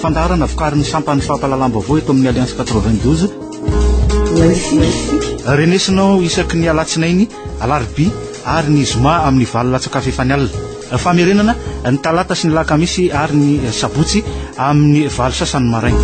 Fandaharana vokarin'ny sampan'ny fampahalalam-baovao eto amin'ny Alliance 92. Renesinao isaky ny alatsinainy, alarobia ary ny zoma amin'ny valo latsakafy efa ny alina. Famerenana ny talata sy ny lakamisy ary ny sabotsy amin'ny valo sasany maraina.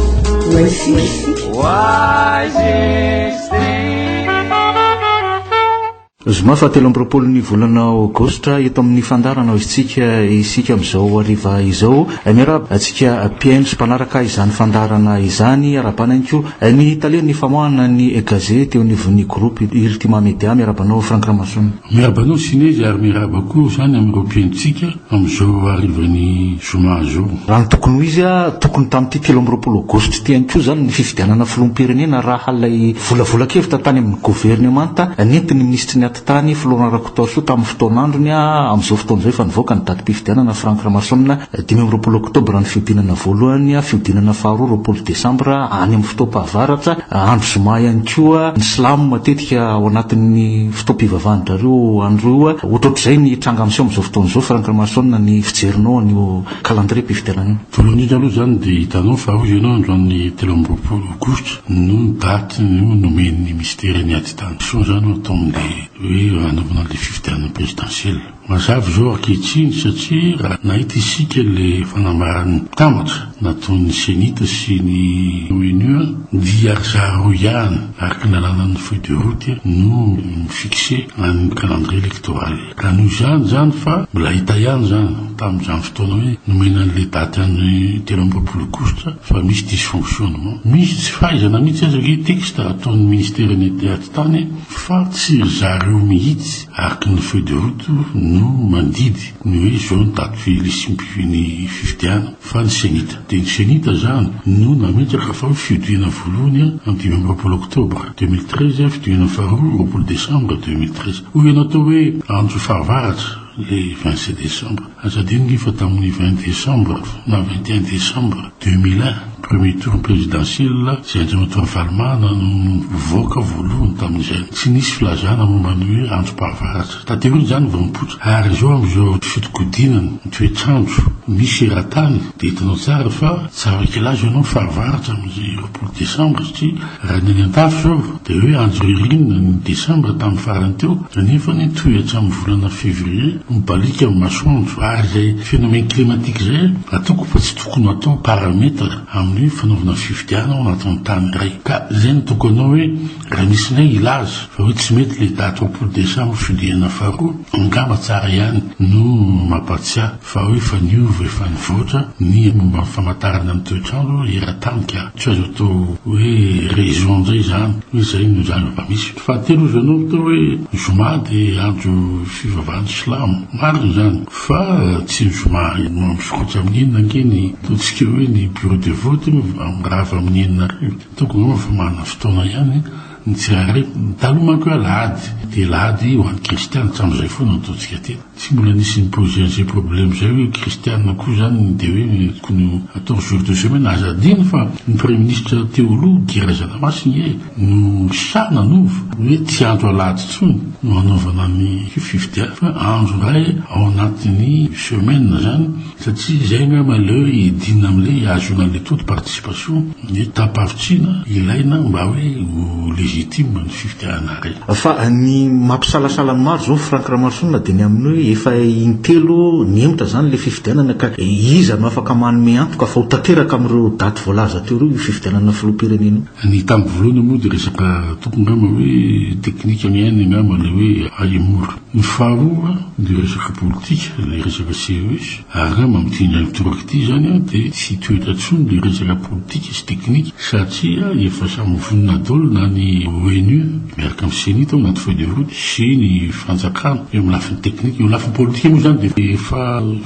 Zoma fahatelo amby roapolo ny volana Aogositra eto amin'ny fandaharana Hoizitsika isika amin'izao hariva izao. Miarahaba antsika mpihaino sy mpanaraka izany fandaharana izany. Arabana ihany koa ny talen'ny famoahana ny gazety eo anivon'ny groupe Ultima Media. Miaraba anao Franck Ramason. Miaraba anao Sinezy ary miaraba koa izany amin'ireo mpihaino-tsika amin'izao harivan'ny zoma izao. Raha ny tokony ho izy, tokony tamin'ity telo amby roapolo aogositra ity ihany koa izany ny fifidianana filoham-pirenena raha ilay volavolan-kevitra tany amin'ny governemanta nentin'ny minisitry ny Atitany, Florent Rakotoarisoa tamin'ny fotoan'androny. Amin'izao fotoana izao efa nivoaka ny datim-pifidianana Franck Ramason, dimy amby roapolo oktobra ny fihodinana voalohany, fihodinana faharoa roapolo desambra any amin'ny fotoam-pahavaratra, andro zoma ihany koa. Ny silamo matetika ao anatin'ny. Tompom-pivavahan-drareo androy oa, ohatrohatrizay ny tranga miseho amin'izao fotoana izao, Franck Ramarison, ny fijerinao an'io calendrier mpifidianana io? Voalohany indrindra aloha izany dia hitanao fa hoy ianao androany telo amby roapolo aogositra no daty nomen'ny minisitera ny ady tany. Soa izany oa atao amin'ilay hoe hanomboana ilay fifidianana présidentielle. Mazava izao ankehitriny satria raha nahita isika ilay fanambaran'ny mpitambatra nataon'ny Cenit sy ny ONU dia ry zareo ihany araka ny lalanan'ny feuille de route no mi-fixer an'ny calendrier electoral. Raha noho izany izany fa mbola hita ihany izany tamin'izany fotoana hoe nomena an'ilay daty an'ny telo amby roapolo aogositra fa misy dysfonctionnement. Misy tsy fahaizana mihitsy aza ve texte ataon'ny Ministera ny ady tany fa tsy ry zareo mihitsy. Araka ny feuille de route no mandidy ny hoe izao ny daty fihilisimpifin'ny fifidiana fa ny Cenit dia ny Cenit izany no nametraka fa ho fiodiana voalohany amin'ny dimy amby roapolo oktobra deux mille treize, fiodiana faharoa roapolo desambra deux mille treize. Hoy ianao tao hoe andro fahavaratra ilay vingt sept desambra. Aza adino nge fa tamin'ny vingt décembre na vingt et un décembre deux mille un, premier tour présidentiel, izay Andriamatoa Ravalomanana no nivoaka voalohany tamin'izay. Tsy nisy filazana momba ny hoe androm-pahavaratra. Taterina izany vao nipoitra. Ary izao amin'izao fitodikodinana ny toetr'andro misy eran-tany dia hitanao tsara fa tsy afaka hilaza ianao fahavaratra amin'izay ireo. Ny desambra satria raha ny any an-dafy izao dia hoe andro ririnina ny desambra tamin'ny farany teo nefa anie toy hatramin'ny volana février mibaliaka ny masoandro ary izay phénomène climatique izay atoko fa tsy tokony hatao paramètre amin'ny fanaovana fifidianana ao anatin'ny tany iray ka izay no tokony hanao hoe raha misy indray hilaza fa hoe tsy mety ilay daty roapolo desambra fihodinana faharoa angamba tsara ihany no mampahatsiahy Fa hoe efa niova, efa nivoatra ny momba ny famantarana ny toetr'andro eran-tany ka tsy azo atao hoe raison indray izany hoe izay no zava-misy. Fahatelo hozy ianao mitao hoe ny zoma dia andro fivavahan'ny silamo. Marina izany fa tsy ny zoma no misokatra amin'ny enina ange ny ataontsika hoe ny bureau de vote no mirava amin'ny enina hariva. Ataoko angamba fa manana fotoana ihany ny tsirairay. Taloha manko hoe alahady dia alahady ho an'ny kristianina, hatramin'izay foana no ataontsika aty. Tsy mbola nisy ni-poser an'izay problème izay hoe kristiana koa izany dia hoe tokony ho atao jour de semaine. Aza adino fa ny praiminisitra teo aloha Guy Razanamasina ee no sahy nanova hoe tsy andro alahady intsony no hanaovana ny fifidianana fa andro iray ao anatin'ny semaine izany. Satria izay angamba ilay hoe hidinina amin'ilay hahazoana an'ilay taux de participation, ny tapavitsiana ilaina mba hoe ho légitime ny fifidianana iray. Fa ny mampisalasala ny maro izao Franck Ramaroson dia ny amin'ny hoe efa in-telo nihemotra izany ilay fifidianana ka iza no afaka manome antoka fa ho tanteraka amin'ireo daty voalaza teo ireo io fifidianana filoham-pirenena io? Ny tamiko voalohany moa dia resaka tokony angamba hoe technique miaina angamba ilay hoe hahemory. Ny faharoa dia resaka politika ilay resaka CES ary raha mampidinga ny toraka ity izany aho dia tsy hitoetra intsony ilay resaka politika sy teknika satria efa samy vonona daholo na ny ONU miaraka amin'ny ceni tao anaty feuille de route sy ny fanjakana eo amin'ny lafiny teknika. Eo lafiny politika moa izany dia efa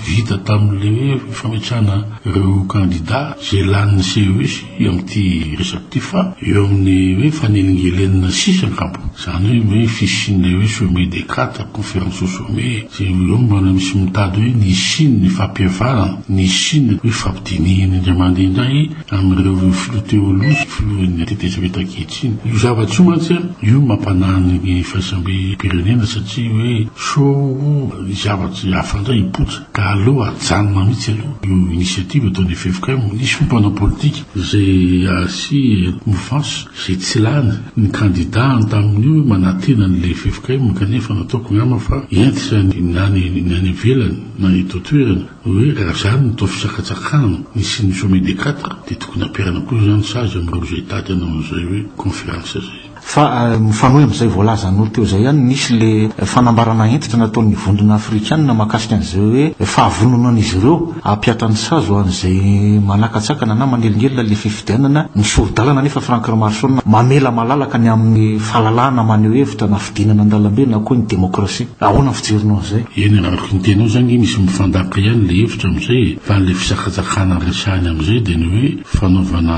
vita tamin'ilay hoe fametrahana ireo kandida izay lanin'ny CES. eo amin'ity resaka ity fa eo amin'ny hoe fanelingelenana sisa angamba, izany hoe hoe fisian'ilay hoe sommet des quatre, conférence au sommet, sy eo no mbola misy mitady hoe ny hisian'ny fampihavanana, ny hisian'ny hoe fampidinihina indray mandeha indray amin'ireo filoha teo aloha sy filohan'ny tetezamita ankehitriny. Io zavatra io mantsy an, io no mampanahy ny faisambem-pirenena satria hoe sao ho zavatra hafa indray hipoitra. Ka aleo ajanona mihitsy aloha io initiative ataon'ny ffkm, misy moa mpanao politika izay asia mouvance izay tsy lany ny kandidany tamin'io hoe manantena an'ilay ffkm kanefa nataoko angamba fa entitra ny na ny any ivelany na ny eto an-toerana hoe raha izany no atao fisakatsakana ny sy ny sommet des quatre dia tokony ampiharina koa izany sazy amin'ireo izay tady hanao an'izay hoe conférence izay. Fa mifanohy amin'izay voalazanao teo izay ihany, nisy ilay fanambarana hentitra nataon'ny Vondrona Afrikana mahakasika an'izay hoe fahavononan'izy ireo hampihatra ny sazy ho an'izay manakatsakana na manelingelina ilay fifidianana. Ny sori-dalana anefa, Franck Remarson, mamela malalaka ny amin'ny fahalalahana maneho hevitra na fidinana an-dalambe na koa ny demokrasia. Ahoana ny fijerinao an'izay? Eny, araka ny tenao izany ange misy mifandaka ihany ilay hevitra amin'izay e! Fa ilay fisakatsakana resahina amin'izay dia ny hoe fanaovana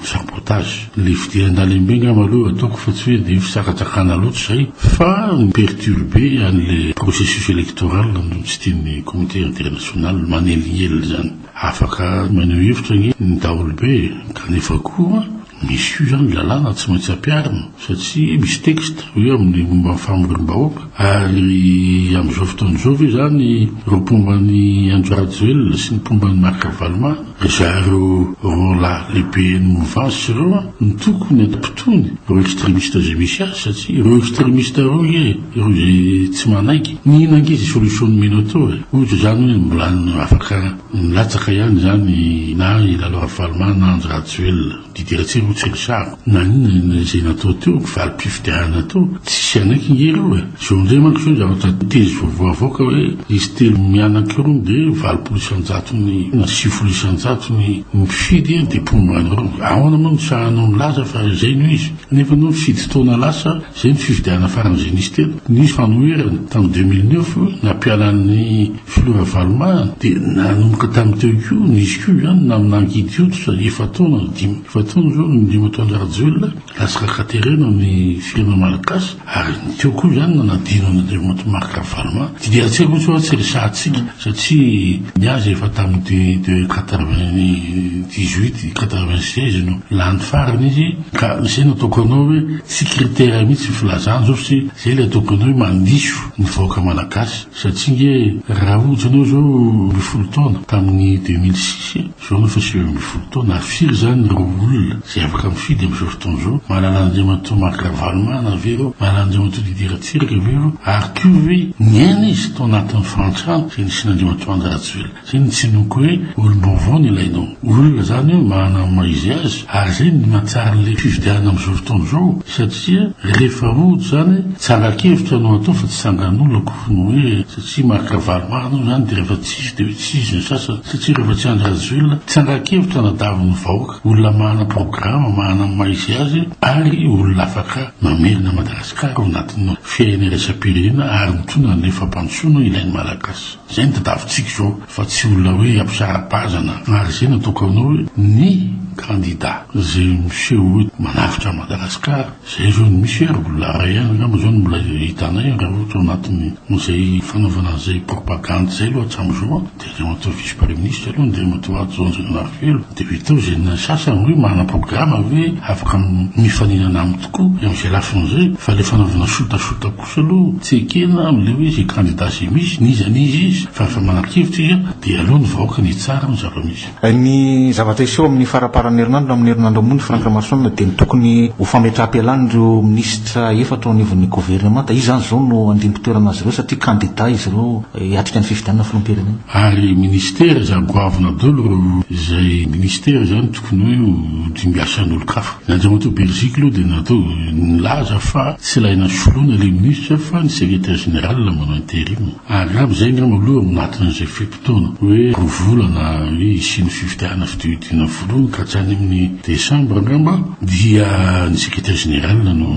sabotage. Le fideha andalembe angamba aloha eo ataoko fa tsy hoe dia fisakatsakana loatra izay fa mi-perturbe an'le processus electoral no tsy tian'ny comité international manelingelina izany. Afaka maneho hevitra ange ny daholobe e! Kanefa koa misy koa izany lalàna tsy maintsy ampiharina satria misy texte hoe amin'ny momba ny famorim-bahoaka ary amin'izao fotoana izao ve izany ireo mpomba an'i Andry Rajoelina sy ny mpomba an'i Marc Ravalomanana Ry zareo roa lahy lehibe an'i Muvasi ireo an, no tokony hampitony ireo extremista izay misy azy satria ireo extremista ireo nge ireo izay tsy manaiky. Nihina ange izay solution nomena teo e. Ohatra izany hoe mbola afaka milatsaka ihany izany na i Lalo Ravalomanana na Andry Rajoelina. Didy Ratsirô tsy ry zako na inona izay natao teo, valim-pifidianana teo, tsisy hanaiky nge ireo e! Zao indray manko izao zavatra tezy vaovao avoaka hoe izy telo mianaka irony dia valopolo isan-jato ny na sivifolo isan-jato ny mpifidy dia mponina any ireo. Ahoana moa no sahanao milaza fa izay no izy nefa anao fidy taona lasa Izay no fifidianana farany izay nisy teto. Nisy fanoherana tamin'ny deux mille neuf nampiala an'i Filoha Ravaloma dia nanomboka tamin'ny teo koa nisy koa izany namin'ankidy hoditra efa-taona na dimy efa-taona izao ny Andriamatoan-dRajoelina lasaka katerena amin'ny firenena malagasy ary ny teo koa izany nanadino an'Andriamatoa Marc Ravaloma dia dia tsy haiko mihitsy hoe tsy resahantsika Satria ny azy efa tamin'ny de quatre-vingt-dix-huit, quatre-vingt-seize no lany farany izy ka izay no ataoko anao hoe tsy critère mihitsy ny filazana izao satria izay ilay ataoko anao hoe mandiso ny vahoaka malagasy satria ange raha ohatra ianao izao ambin'ny folo taona tamin'ny deux mille six Izao no efa sivy ambin'ny folo taona ary firy izany ireo olona izay afaka mifidy amin'izao fotoana izao? Mahalala an'Andriamatoa Marc Ravalomanana ve ireo? Mahalala an'Andriamatoa Didier Ratsiraka ve ireo? Ary koa ve niaina izy tao anatin'ny fahantrana izay nisian'Andriamatoa Andry Rajoelina? Izay no tsinoako hoe olom-baovao no ilainao. Olona izany io manana ny maha izy azy ary izay no mahatsara an'ilay fifidianana amin'izao fotoana izao satria rehefa rojo izany tsangan-kevitra no atao fa tsy tsangan'olona akory ny hoe satria Marc Ravalomanana hoy izany dia rehefa Izy dia hoe tsy izy ny sasany satria rehefa tsy Andry Rajoelina tsy hangan-kevitra hanadavy ny vahoaka, olona mahana programa, mahana ny maha izy azy ary olona afaka mamerina an'i Madagasikara ao anatin'ny fiahiana iraisam-pirenena ary mitondra ny fampandrosoana ilain'ny Malagasy. Izay no tadiavintsika izao fa tsy olona hoe hampisara-bazana ary izay no atao kanao hoe ny kandida izay miseho hoe manavotra an'i Madagasikara. Izay ireo no misy ary mbola iray ihany angamba izao no mbola hitanay raha ohatra ao anatin'ny izay fanaovana izay propagandy izay aloha hatramin'izao an, dia Andriamatoa Vice Praiminisitra aloha Andriamatoa Hajo Andrianarivelo dia avy eo teo izay ny sasany hoe manana programa ve afaka mifaninana aminy tokoa amin'izay lafiny izay fa ilay fanaovana sotasota kosa aloha tsy ekena amin'ilay hoe izay kandida izay misy n'iza n'iza izy fa efa manana-kevitra izy dia aleo ny vahoaka ny hitsara ny zava-misy. Ny zavatra hiseho amin'ny faraparan'ny herinandro na amin'ny herinandro ambony, Franck Ramasoanina, dia ny tokony ho fametraham-pialan'ireo minisitra efatra ao anivon'ny governemanta. Izy izany izao no andimpi-toerana azy ireo satria kandida izy ireo hiatrika ny fifidianana filoham-pirenena. Ary minisitera izany goavana dolo ireo izay minisitera izany tokony hoe ho dimbiasan'olon-kafa. Ny Andriamatoa Berziky aloha dia natao nilaza fa tsy ilaina soloina ilay minisitra fa ny secretaire général manao interim. Ary angamba izay angamba aloha ao anatin'izay fe-potoana hoe roa volana hoe hisian'ny fifidianana fidiodiana voalohany ka tsy any amin'ny desambra angamba dia ny secretaire général no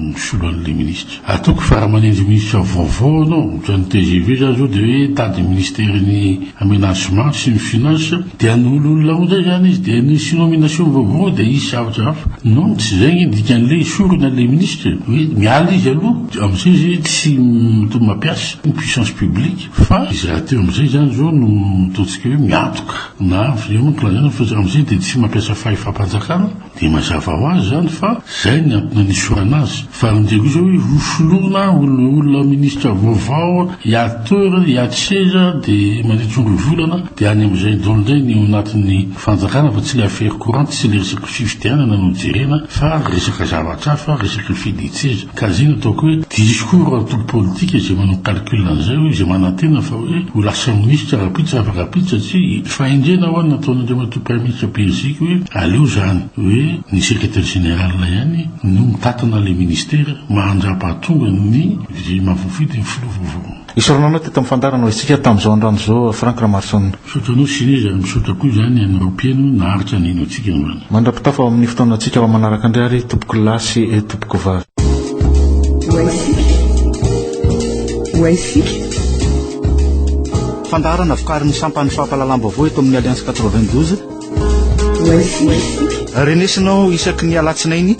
misolo an'ilay ministra. Ataoko fa raha manendry ministra vaovao ianao, ohatran'ny tgv izany izao dia hoe tady ny ministeran'ny aménagement sy ny finances dia hanolo olona ao indray izany izy dia nisy nomination vaovao dia hisy zavatra hafa. Non, tsy izay anie ny dikan'ilay esorina ilay ministra hoe miala izy aloha. Amin'izay izay tsy mitoa mampiasa ny puissance publique fa izy rahateo amin'izay izany izao no ataontsika hoe miantoka na izay moa no lazaina fa amin'izay dia tsy mampiasa fahefam-panjakana dia mazava ho azy izany fa izay ny antony anisorana azy fa amin'izay koa izao hoe ho soloina olona olona ministra vaovao hiady toerana hiady seza dia mandritry ny roa volana dia any amin'izay daholo indray ny ao anatin'ny fanjakana fa tsy ilay affaire courante tsy ilay resaka fifidianana no jerena fa resaka zavatra hafa resaka fidian-tseza Ka izay no ataoko hoe, diso koa ireo antoko politika izay manao calcul an'izay hoe, izay manantena fa hoe ho lasa minisitra rahampitso raha afaka-pitso satria i, fahendrena ho'a ny nataon'Andriamatoa Praiminisitra Beriziky hoe, aleo izany hoe ny Secretaire Général ihany no mitatana ilay Ministera, mahandrapa hahatonga ny, izay mahavoafidy ny Filoha vaovao. Isaorana anao teto amin'ny fandaharana ho isika tamin'izao androany izao Franck Ramaroson. Misaotra anao Sinéz ary misaotra koa izany an'i Raopieno naharitra ny hino antsika androany. Mandra-pitafa ho amin'ny fotoanantsika ho manaraka indray ary tompoko lahy sy tompoko vavy. Ho isika. Ho isika. Fandaharana vokarin'ny sampan'ny fampahalalam-baovao eto amin'ny Alliance quatre-vingt-douze. Ho isika. Renesinao isaky ny alatsinainy